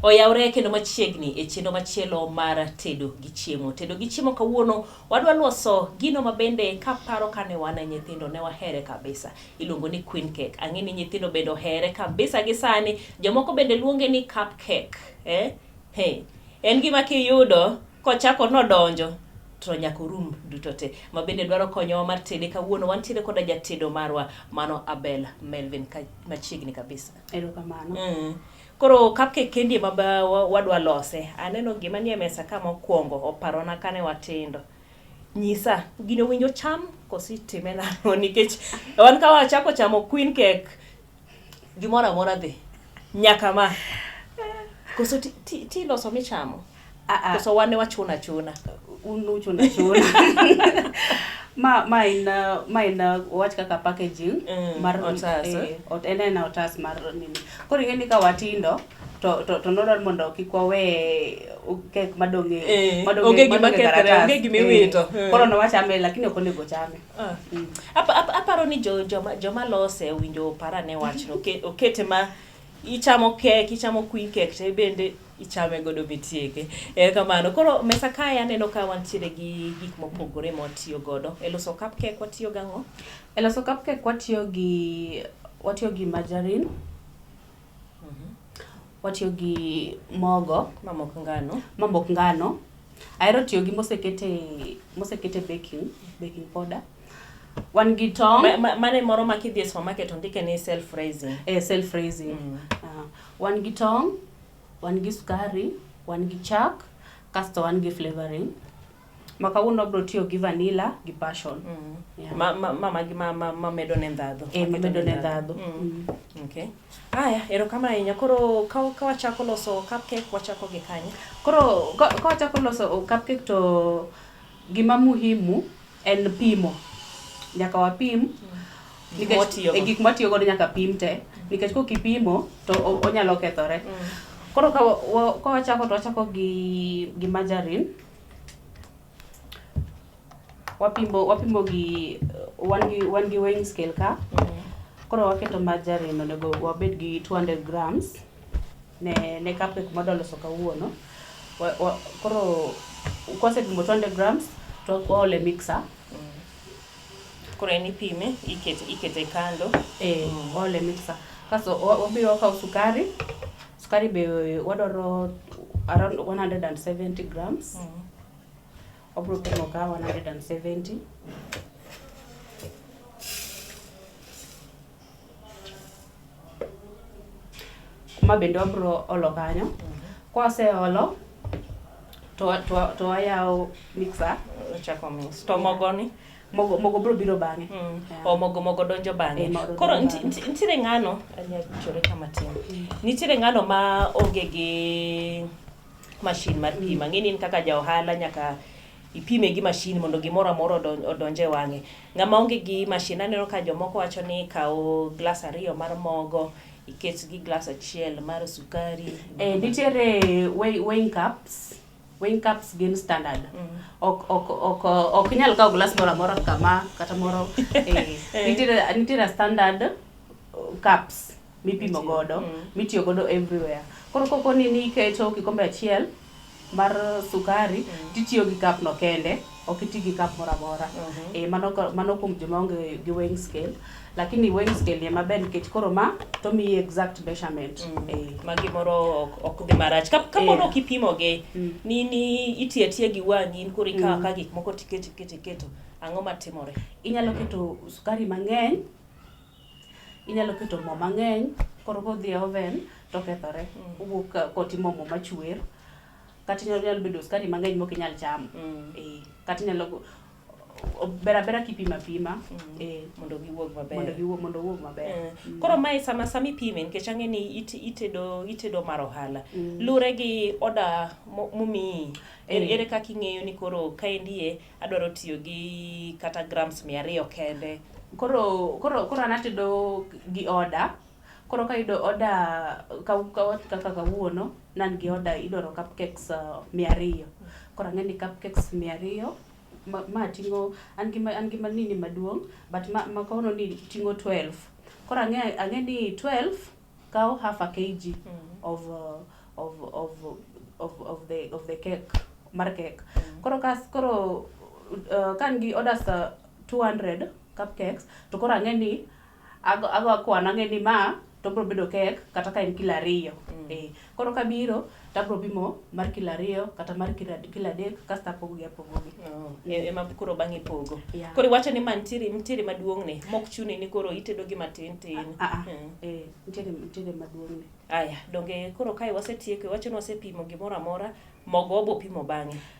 oyawre kendo machiegni e chenro machielo mar tedo gi chiemo tedo gi chiemo kawuono wadwa loso gino mabende kaparo kane wan e nyithindo ne wahere kabisa Iluongo ni queen cake. Ang'e ni nyithindo bende ohere kabisa gi sani. Jomoko bende luonge ni cup cake. Eh? Hey. En gima kiyudo kochako nodonjo to nyaka orum duto te ma bende dwaro konyowa mar tede kawuono wantiere koda jatedo marwa mano Abel Melvin ka, machiegni kabisa erokamano mm. koro kapke kendi ma wadwa lose aneno gima nie mesa ka mokwongo oparona kane watindo Nyisa, gino winjo cham koso itime nang'o? Nikech wan ka wachako chamo queen cake, gimoro amora dhi. Nyaka ma. Koso ti- ti- ti loso michamo? Ah, ah. Koso wan ne wachuna chuna? un uchuna chuna ma ma en uh, ma en uh, wach kaka packaging Mm, mar otas, eh, ot en en otas mar nini koro ing'e ni ka watindo to to to nodwar mondo kik wawe kek madong' e- Eh, madong' e- onge gima madong' e kethre, karatas. onge gima Eh, iwito. Eh. koro nowachame lakini ok onego chame Ah. Mm. Apa- apa- aparo ni jo- joma joma lose owinjo opar ane wachno Oke- okete ma ichamo kek ichamo queen cake to bende ichame godo mitieke ere kamano koro mesa kae aneno ka wantiere gi gik mopogore ma watiyo godo e loso cup cake watiyo gang'o e loso cupcake watiyo gi watiyo gi margarine Watiyo gi mogo ma mok ngano, ma mok ngano. Ahero tiyo gi mosekete mosekete baking, baking powder. Wan gi tong'. Mane moro ma kidhi e supermarket to ndike ni self raising. Eh, self raising. Mm. Uh, wan gi tong', wan gi sukari, wan gi chak, kasto wan gi flavoring. Ma kawuono wabiro tiyo gi vanilla gi passion. Mm. Yeah. Ma, ma, ma, magi ma, ma, ma medo ne ndhadho. Eh, ma medo ne ndhadho. Mm. Mm. Okay. Aya, erokamano ahinya. Koro ka, ka wachako loso cupcake, wachako gi kanye? Koro ka, ka wachako loso cupcake to gima muhimu en pimo. Nyaka wapim. Mm. Gik Nikech mwatiyo e go. gik mwatiyo godo nyaka pim te. Nikech kok ipimo to o- onyalo kethore. Mm. Koro ka wa- wa- ka wachako to wachako gi gi margarine. wapimo wapimo gi wan gi wan gi weighing scale ka koro waketo margarine onego wabed gi 200 grams ne ne cupcake ma wadwa loso kawuono wa, wa, koro kwasepimo 200 grams to waole mixer Koro en ipime, ikete, ikete kando. eh, waole mixer kasto wa- wabiro wakawo sukari Sukari be wadwaro around 170 grams. Mm. Wabro pimo ka 170. Ma bende wabro olo kanyo. Kwaseolo to to to ayawo mixer. Chako mix. To mogoni? mogo mogo bro biro bang'e mm. yeah. o mogo mogo donjo bang'e eh, koro nitiere ng'ano anyachore kama tin mm. nitiere ng'ano ma onge gi mashin mar pima mm. ng'eni in kaka ja ohala nyaka ipime gi mashin mondo gimoro amora odonj e wang'e ng'ama onge gi mashin aneno ka jomoko wacho ni kawo glas ariyo mar mogo iket gi glas achiel mar sukari eh, nitiere weighing cups Wing cups gin standard. Mm. Ok ok ok ok nyal kawo glass moro amora kama kata moro eh, eh. nitiere nitiere standard uh, cups mipimo godo mm. mitiyo godo everywhere. Koro koko ni niketo kikombe achiel mar sukari mm. titiyo gi cup no kende ok iti gi cup moro amora mm-hmm. e, mano, mano kuom joma onge gi weighing scale lakini weighing scale ni maber nikech koro ma to mi exact measurement mm. e. Eh. ma gimoro ok dhi marach ka ka mono eh. kipimo gi mm. ni ni iti atia gi wangi in koro ikawa mm. ka gik moko tiketo keto keto ang'o matimore inyalo keto sukari mang'eny inyalo keto mo mang'eny koro kodhi e oven to kethore mm. owuok kotimo mo machwer kata inyalo nyalo bedo sukari mang'eny mok inyal chamo Mm. eh, kata inyalo go- o- ber abera kipima pima Mm. eh, mondo giwuog maber mondo giwuog mondo owuog maber Eh, koro mae sama sama ipime nikech ang'e ni it- itedo itedo mar ohala Mm. lure gi oda mo- momiyi ere, Eh. ere kaka ing'eyo ni koro kaendie adwaro tiyo gi kata grams mia ariyo kende koro koro koro an atedo gi oda Koro kayudo order kaka kawuono nan gi order idwaro cupcakes uh, mia ariyo koro ang'e ni cupcakes mia ariyo ma ting'o an gi an gi manini maduong' but ma, ma kawuono ni ting'o 12 koro ang'e ang'e ni 12 kawo half a kg mm. of, uh, of, of, of, of, the, of the cake mar cake mm. koro kas koro uh, kan gi orders uh, 200 cupcakes to koro ang'e ni Ago ago akwano ang'e ni ma to bro bedo kek kata ka en kilo ariyo mm. eh, koro kabiro to abro pimo mar kilo ariyo kata mar kilo adek kasto apogogi apogogi oh, e, ema koro bang'e pogo yeah. koro iwacho ni ma ntiere ntiere maduong'ne mok chuni ni koro itedo gi matin tin ah, ah, ah. mm. eh, ntiere ntiere maduong'ne aya donge koro kae wasetieko iwacho ni wasepimo gimoro amora mogo obo pimo bang'e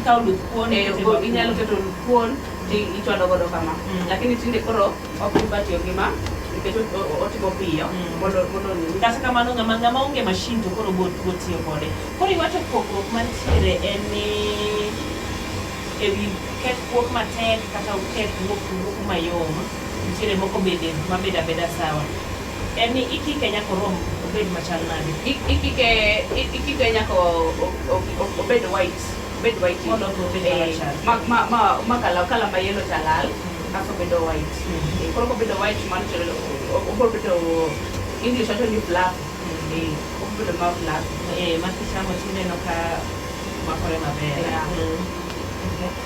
ikawo luth kuon eh, inyalo keto luth kuon ti ichwado godo kama mm. lakini tinde koro ok ibatiyo gi ma nikech otimo piyo mm. mondo mondo kata kamano ng'ama ng'ama onge mashin to koro go go tiyo kode koro iwacho pogruok mantiere en ni ewi ket kuok matek kata uket wuok wuok mayom nitiere moko bende mabeda beda sawa En ni ikike nyaka orom obed machal nade? Ikike ikike nyaka obed white obed white mondo obed eh, machal. Ma ma ma ma kala kala ma yellow talal hmm. kaso bedo white. Hmm. Eh, koro ko bedo white man to obro bedo English wacho ni black. Hmm. Eh, obro bedo ma black. Eh, ma kichamo tineno ka makore maber. Yeah. Mm.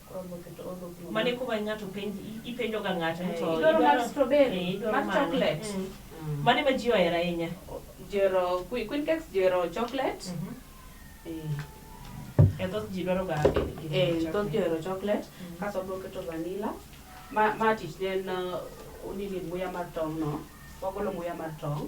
Mane kuba ng'ato penj ipenjo ga ng'ato to idwaro mar strawberry mar chocolate mm. Mm. mane ma ji ohero ahinya jero queen cakes jero chocolate mhm. eh. e thoth ji dwaro ga eh, thoth ji ohero chocolate mhm. kaso bro keto vanilla ma ma tich ne en uh, nini muya mar tong no wagolo muya mar tong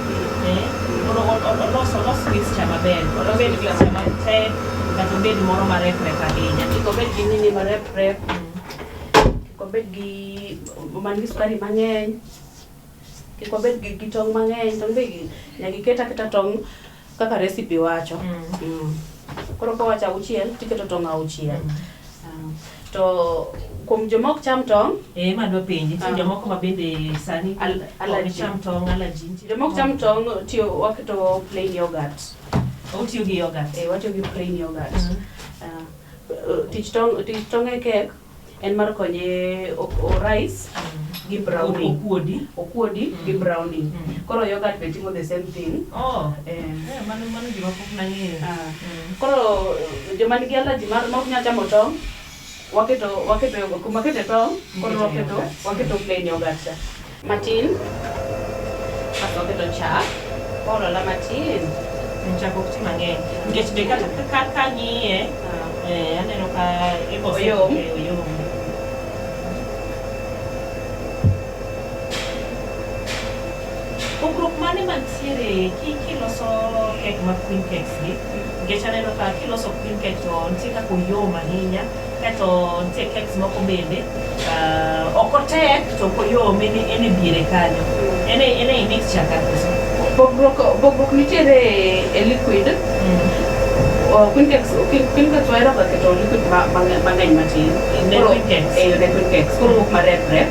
Eh, mondo o- o- olos olos mixture maber mondo obed mixture matek kata obed moro mareprep ahinya kik obed gi nini mareprep kik obed gi man gi sukari mang'eny kik obed gi, gi tong' mang'eny tong' be gi- nyaka iket aketa tong' Kaka recipe wacho. Mm. Koro kowacho auchiel tiketo tong' auchiel. Ah, To kuom joma ok cham tong', Eh, ma dwa penji, nitie Ah. jomoko ma bende sani Al- ok allergy. cham tong', allergy, nitie joma ok cham tong' tiyo waketo plain yogurt. Otiyo gi yogurt. Eh, watiyo gi plain yogurt. Mhm. Ah, eh, tich tong' tich tong' e kek en mar konye orais gi brownie okuodi okuodi mm. gi brownie mm. koro yogurt be timo the same thing oh eh, eh mano mano gima pok nang'eyo ah. mm. koro joma nigi allergy mar ma ok nyal chamo tong' waketo waketo kumakete tong' koro waketo waketo plain yogurt cha Matin. Kasto waketo chak. Waolo la matin. Chak ok ti mang'eny. Nikech be kata ka ka ng'iye, Ah. eh, aneno ka ibo Oyom. eh, oyom. Pogruok mane mantiere ki- kiloso kek ma queen cakes gi? Nikech aneno ka kiloso queen cake to nitie kaka oyom ahinya Kaeto nitie cakes moko bende uh, ok otek to ok oyom en en e diere kanyo en e- en e mixture ka koso Pogruok pogruok nitiere e liquid. Oh, Queen cakes, queen queen cakes wahero ga keto liquid ma- mang'eny mang'eny matin. Ne Koro- queen cakes. Eh, ne queen cakes. Koro wuok ma rep rep.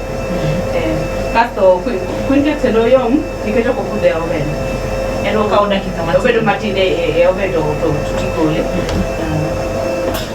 Eh, Kasto queen queen cakes endo yom nikech ok obudh e oven. En Okawo dakika matin. Obedo matin e e- e oven to to to tigole.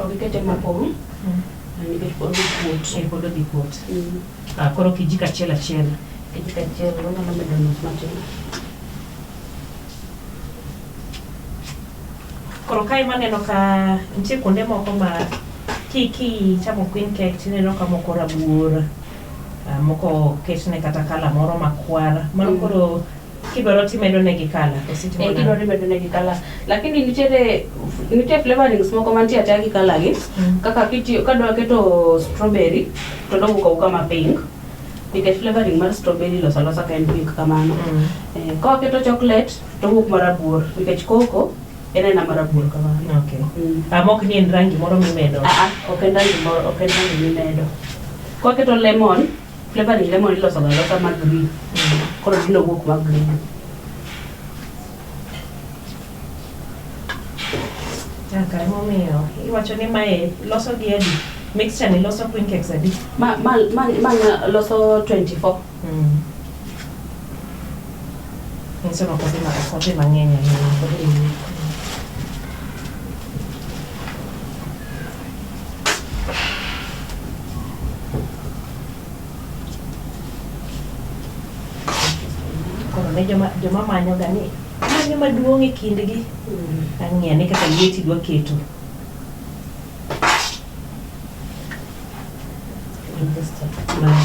Ogikete mopong'. Mm. Nikech pod okuot. Eh, pod odhi kuot. Mm. Ah, koro kijiko achiel achiel. Kijiko achiel wanyalo medo nus matin. Koro kae maneno ka nitie kuonde moko ma ki kichamo queen cake tineno ka moko rabuor, ah, moko ketne kata kala moro makwar. Mano Mm. koro Kidwaro timedo negi kala e siti Eh, kidwaro imedo negi kala lakini nitiere nitie flavorings moko mantie ataya gi kala gi Mm. kaka kitiyo kadwa keto strawberry to dowuok awuoka ma pink nikech flavoring mar strawberry losa losa ka en pink kamano Mm. Eh, ka waketo chocolate to wuok marabuor nikech koko en aena marabuor kamano Okay. Mm. Ama ok ni en rangi moro mimedo. Ah, ah, ok en rangi moro ok en rangi mimedo ka waketo lemon Flavor ni lemon iloso ga losa ma green. Koro gino wuok ma green. Kaka emomiyo iwacho ni mae loso gi adi? Mixture ni loso queen cakes adi? Ma ma ma ma nga- loso 24. Mm. Nyiso ni ok odhi ma- ok odhi mang'eny ahinya. Koro ne joma, joma manyoga ni manyo maduong' e kindgi. Ang'e ane kaka lieti dwa keto. Mano.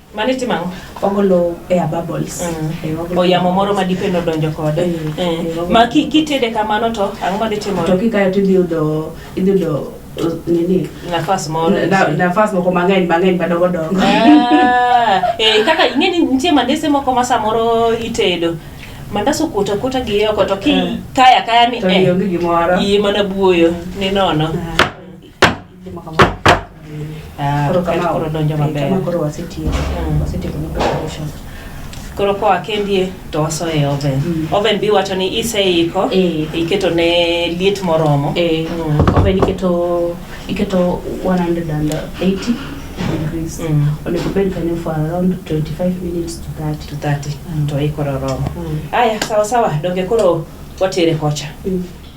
Mani timo ang'o? Ogolo air bubbles. Eh, ogolo- Oyamo moro ma dipe nodonjo kode. Mm. Eh, Mm. Ma ki- kitede kamano to ang'o ma dhi To timore? kikayo to idhi yudo idhi yudo uh, nini Nafas moro. na- na- nafas moko mang'eny mang'eny madongo dongo. Ah, eh, kaka ing'e ni nitie mandese moko ma samoro itedo mandas okuota okuota gi oko to ki Mm. kaya kaya ni To eh, ionge gimoro. iye mana buoyo ni nono Ah. Ah, Koro kama koro donjo kama maber koro wasetieko Mm. wasetieko ni preparation koro koa kendie to wasoyo e oven Mm. oven bi wacho ni iseiko Eh. iketo ne liet moromo eh Mm. oven iketo iketo 180 degrees Mm. onego bed kanyo for around 25 minutes to 30 to 30 Mm. to ikoro romo Mm. aya sawa sawa donge koro watere kocha Mm.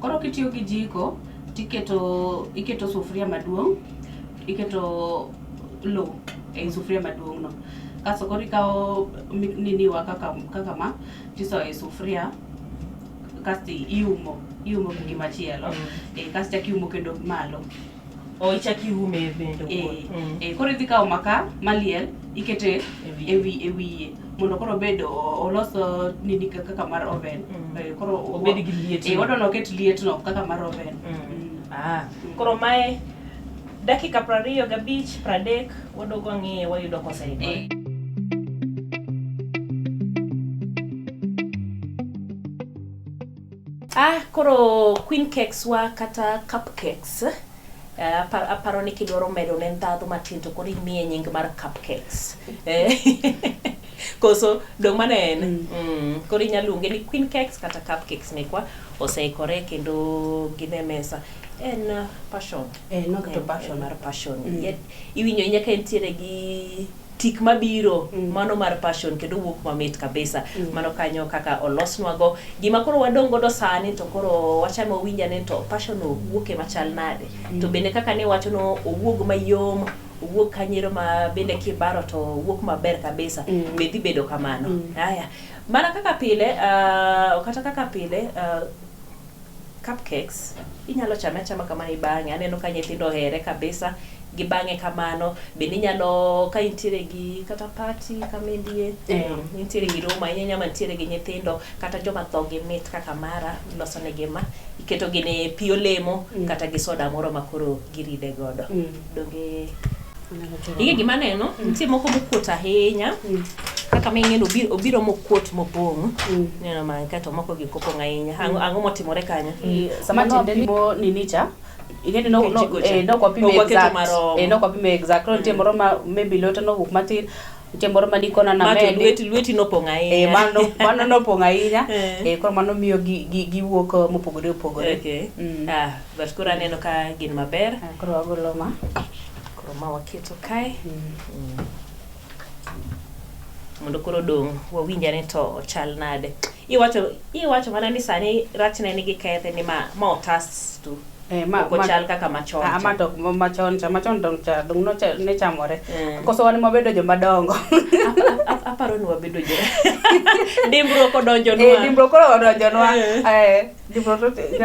Koro kitiyo gi jiko tiketo iketo sufuria maduong' iketo lo ei sufuria maduong' no kaso koro ikawo mi- niniwa kaka, kaka ma tisoyo e sufuria kasto iumo iumo gi gimachielo eh, kasto ichak iumo kendo malo o ichak iume e bende eh, owuon. Mm. Eh, koro idhi kawo maka maliel ikete E wiye. ewi ewiye mondo koro obed o- olos o, nini ka- kaka mar oven Mm. Eh, koro o- Obed gi liet eh, no. odono oket lietno kaka mar oven Mm. Mm. Ah, koro mae dakika prariyo gabich pradek wadogo ang'eye wayudo koseikore Eh, Ah, koro queen cakes wa kata cupcakes eh, apar, aparo ni kidwaro medo ne ndhadhu matin to koro imiye nying mar cupcakes Eh, koso dong mano en mm. Mm. koro inyalo luonge ni queen cakes kata cupcakes mekwa oseikore kendo gin e mesa en uh, passion Eh, nok to En- passion. en mar passion Mm. Yet iwinjo nyaka entiere gi tik mabiro mm. mano mar passion kendo wuok mamit kabisa mm. mano kanyo kaka olosnwago gima koro wadong' godo sani to koro wachano winja ni to passion owuoke machal nade mm. to bende kaka ne wacho no owuog mayom owuok kanyero ma bende kibaro to owuok maber kabisa mm. be dhi bedo kamano mm. haya mana kaka pile uh, kata kaka pile uh, Cupcakes inyalo chame achama kamano ibang'e, aneno ka nyithindo ohere kabisa gibang'e kamano. Bende inyalo ka intiere gi kata party kama indie, Yeah. intiere gi room ahinya ahinya mantiere gi nyithindo kata joma dhogi mit kaka mara, iloso negi ma, iketo gini pi olemo kata gi soda moro ma koro giride godo. Donge Ige gima aneno, mm. nitie moko mokuot ahinya mm. kaka ma ing'eno obiro mokuot mopong' mm. neno man kato moko gi kopong' ahinya ang'o motimore kanyo sama nopimo ninicha ing'eni nokwapime eh, exact nitie moro ma maybe lwete nowuok matin nitie moro ma nikona namenilweti nopong' ahinya eh, mano nopong' ahinya eh. koro mano miyo giwuok mopogore opogore ah, but koro aneno ka gin maber ah, koro agolo ma Koro ma waketo kae. Mondo koro odong' wawinj ane to ochal nade. Iwacho iwacho mana ni sani rachne nigi kethe ni ma ma otas tu. Eh, ma- Ok ma- ochal kaka machon Ah, cha. ma to ma- machon cha machon dong cha dong no cha ne chamore Mm. koso wan mabedo joma dongo Ap- Aparo ni wabedo jo. Dimbruok odonjo eh nwa. dimbro koro odonjonwa Eh. eh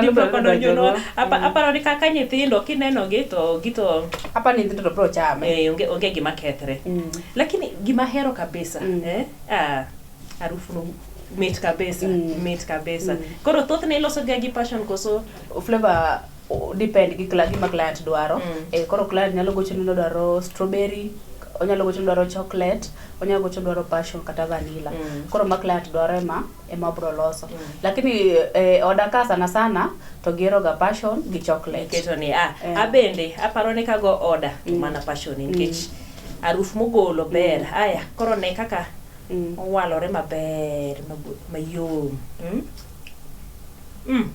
Gipokodonjonwa. Apa- Aparo ni kaka nyithindo kinenogi to gito apa ni nyithindo to bro chame eh, onge onge gima kethre. Mm. Lakini gima hero kabisa Mm. eh, ah, harufu no mit kabisa Mm. mit kabisa Mm. koro thothne ilosoga gi passion koso flavor o- depend gi cla- gima client dwaro Mm. eh, koro client nyalo gocho ni odwaro strawberry onyalo gocho ni odwaro chocolate onyalo gocho ni odwaro passion kata vanilla Mm. koro ma client dwaro ema ema obro loso mm. lakini eh, oda ka sana sana to gihero ga passion gi chocolate keto ni ah, eh. abende aparo ni kago oda mm. mana passion mm. nikech mm. aruf mogolo ber mm. aya koro ne kaka mm. owalore maber mayom mm? mm.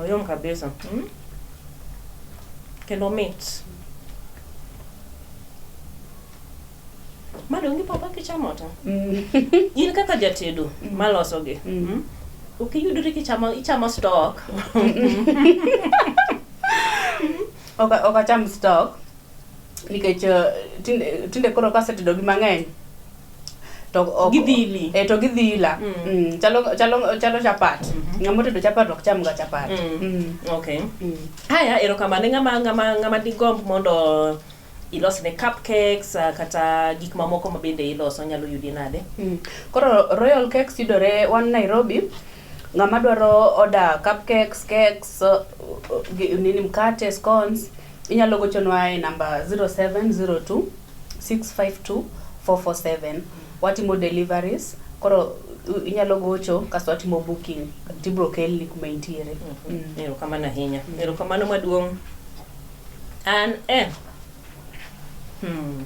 oyom kabisa mm? kendo mit Madongi papa kichamo ta. Mm. In kaka jatedo mm. maloso gi. Mm. mm. Ok iyudri kichamo ichamo stock. Ok ok acham stock. Nikech uh, tinde tinde koro kasetedo gi mang'eny to ok gidhili eh to gidhila mm. mm. chalo chalo chalo chapat mm -hmm. ngamo tedo chapat ok cham ga chapat mm. mm. okay mm. haya erokamano ngama ngama ngama digomb mondo ilos ne cupcakes ah, kata gik mamoko ma bende iloso nyalo yudi nade Mm. Koro Royal Cakes yudore wan Nairobi. Ng'ama dwaro order cupcakes, cakes, uh, uh, gi- nini mkate, scones, inyalo gochonwa e namba 0702 652 447. Watimo deliveries. Koro uh, inyalo gocho kasto watimo booking tibro kelni kuma intiere. Mm. erokamano ahinya erokamano maduong' An eh. Hmm.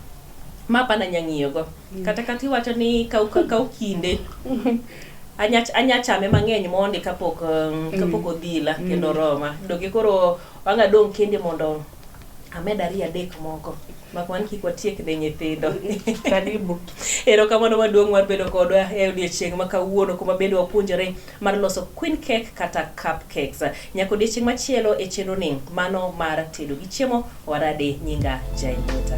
Ma pana nyang'iyo go. Mm. Kata kati wacho ni kau kau kinde. Anya anya chame mang'eny mondi kapok um, mm. kapok odhila mm. kendo roma. Dogi koro wanga dong kinde mondo amed ariyo adek moko mak wan kik watiek ne nyithindo karibu erokamano maduong' mar bedo kodwa e odiechieng' ma kawuono kuma bende wapuonjore mar loso queen cake kata cup cakes nyaka odiechieng' machielo e chenro ni mano mar tedo gi chiemo warade nyinga jaimuta